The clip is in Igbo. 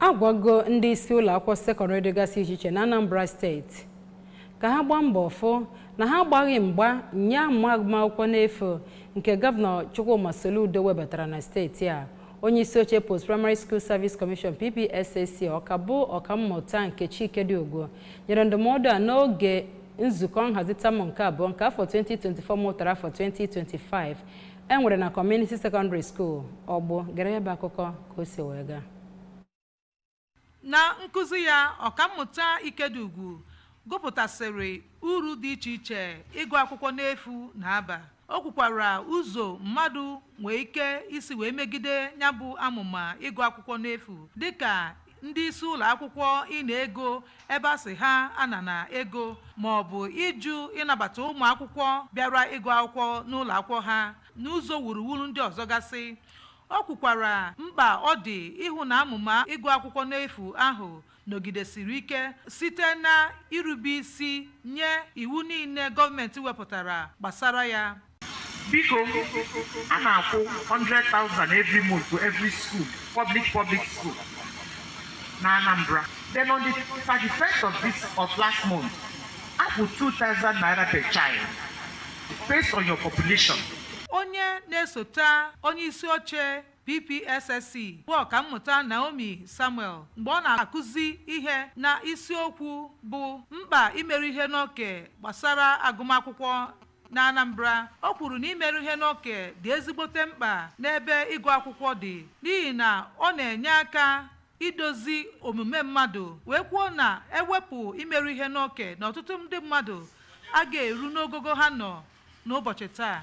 agwago ndị isi ụlọ akwụkwọ sekọndịrị dịgasị iche iche na Anambra steeti ka ha gbaa mbọ fụ na ha agbaghị mgba nye amụma agụmakwụkwọ n'efu nke gọvanọ Chukwuma Soludo webatara na steeti a onye isi oche post primary school service commission PPSSC ọka bụ ọkammụta Nkechi Ikediugwu nyere ndụmọdụ a n'oge nzukọ nhazi tamụ nke abụọ nke afọ 2024 mụtara afọ 2025 enwere na community secondary school ọgbụ gere ya bụ akụkọ ka o si wee gaa Na nkụzi ya, Ọkammụta Ikediugwu gụpụtasịrị uru dị iche iche ịgụ akwụkwọ n'efu na-aba. O kwukwara ụzọ mmadụ nwee ike isi wee megide ya bụ amụma ịgụ akwụkwọ n'efu dịka ndị isi ụlọ akwụkwọ ịna ego ebe a sị ha anana ego ma ọ bụ ịjụ ịnabata ụmụ akwụkwọ bịara ịgụ akwụkwọ n'ụlọ akwụkwọ ha n'ụzọ wuruwuru ndị ọzọ gasị. O kwukwara mkpa ọ dị ịhụ na amụma ịgụ akwụkwọ n'efu ahụ nọgidesiri ike site na irube isi nye iwu niile gọọmenti wepụtara gbasara ya. Biko, a na-akwụ 100,000 every month to every school, public public school na Anambra. Then on the 31st of this of last month, a kwụ 2,000 naira per child. based on your population. onye na-esota onye isi oche PPSSC bụ ọkammụta Naomi Samuel mgbe ọ na-akụzi ihe na isiokwu bụ mkpa imeru ihe n'oke gbasara agụmakwụkwọ na Anambra o kwuru na imeru ihe n'oke dị ezigbote mkpa n'ebe ịgụ akwụkwọ dị n'ihi na ọ na-enye aka idozi omume mmadụ wee kwuo na ewepụ imeru ihe n'oke na ọtụtụ ndị mmadụ agaghị eru n'ogogo ha nọ n'ụbọchị taa.